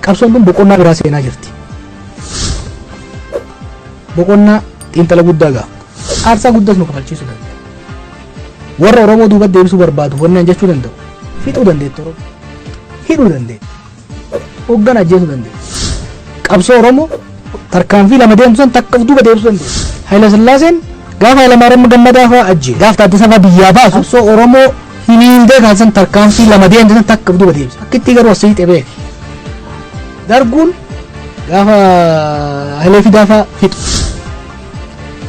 Qabsoon kun boqonnaa biraa seenaa jirti. Boqonnaa xiinxala guddaa ga'a. Aarsaa guddaas nu kafalchiisuu danda'a. Warra Oromoo duuba deebisuu barbaadu wannaan jechuu danda'u. Fixuu dandeetti Oromoo. Hidhuu dandeetti. Hoggan ajjeesuu dandeetti. Qabsoo Oromoo Tarkaanfii lama deemtu san takka of duuba deebisuu dandeessa. Hayila Sillaaseen gaafa Hayilamaariyaam Gammadaa fa'aa ajjeese. Gaafa Taaddasaa fa'aa biyyaa baasu. Qabsoo Oromoo hiniindee kan san tarkaanfii lama deemte san takka of duuba deebisa. Akka ittii garuu as siixee beeka. Darguun gaafa Hayilee Fidaa fa'aa fixu.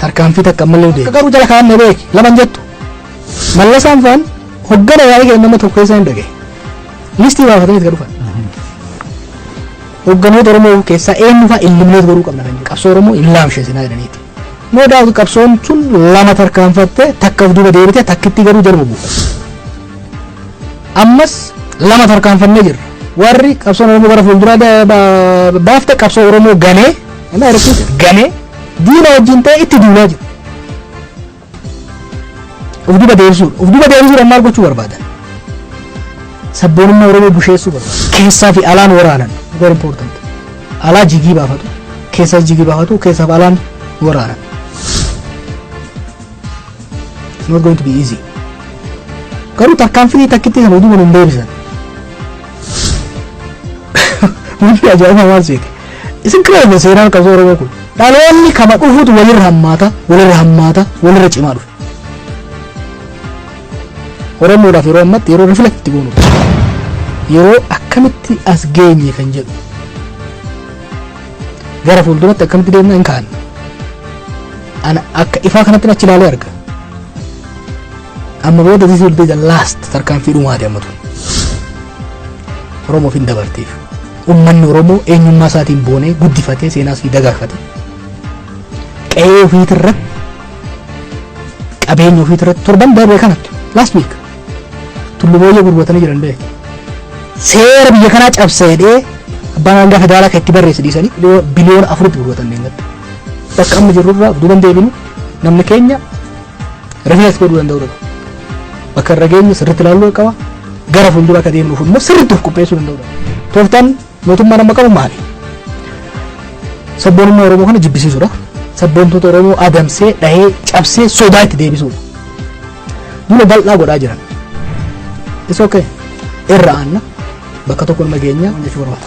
Tarkaanfii takka ammallee deema. Garuu jala kaa'amne beeki. Laman jettu. Mallasaan fa'aan hoggana yaa'ii kenna nama tokko keessaa hin dhagaye. Listii baafatanii itti dhufan. Hoogganoota Oromoo keessaa eenyu fa'a eliminate godhuu qabna kan jedhu qabsoo Oromoo hin laamsheesinaa jedhaniiti. No doubt qabsoon tun lama tarkaanfatte takka of duuba deebite takkitti garuu jaluma buufatte. Ammas lama tarkaanfannee jirra. Warri qabsoon Oromoo gara fuulduraa da- ba- baafte qabsoo Oromoo ganee, am I repeat? ganee diina wajjin ta'e itti duulaa jiru. Of duba deebisuudha. Of duba deebisuudhaan maal gochuu barbaadan? Sabboonummaa Oromoo busheessuu barbaadan. Keessaa fi alaan waraanan. Very important. Alaa jigii baafatu. Keessaa jigii baafatu. Keessaa fi alaan waraanan. It's not going to be easy. Garuu tarkaanfii takkitti sana utuu hin deebisan. Wanti ajaa'ibaa maal seete? Isin kira irra seenaan qabsoo Oromoo kun dhaloonni kama dhufutu walirra hammaata, walirra hammaata, walirra cimaa dhufe. Oromoodhaaf yeroo ammatti yeroo reflect itti goonu yeroo akkamitti as geenye kan jedhu gara fuulduratti akkamitti deemna hin kaa'anne. Ana akka ifaa kanatti achi ilaalee arga. Amma booda this will be the last tarkaanfii dhumaati amma tun. Oromoof hin dabarteef. Ummanni Oromoo eenyummaa isaatiin boonee, guddifatee, seenaa isii dagaagfate, qe'ee ufiit irratti, qabeenya ufiit irratti, torban dabre kana, last week, Tullu Booyyee gurguratanii jiran bee. Seera biyya kanaa cabsa jedhee abbaan alangaa federaalaa kan itti barreesse dhiisanii biliyoona afuritti gurguratan deengatti. Bakka amma jirru irraa duuban deebinu namni keenya Reflex godhuu danda'uu dhabu. Bakka irra geenyu sirriitti ilaaluu qaba. Gara fuuldura akka deemnuuf immoo sirriitti of qopheessuu danda'uu dhabu. Tooftaan mootummaan amma qabu maali? Sabboonummaa Oromoo kana jibbisiisuudha. Sabboontoota Oromoo adamsee, dhahee, cabsee, sodaa itti deebisuudha. Duula bal'aa godhaa jiran. Isa okay. Irra aanna bakka tokko nama geenya jechuu barbaada.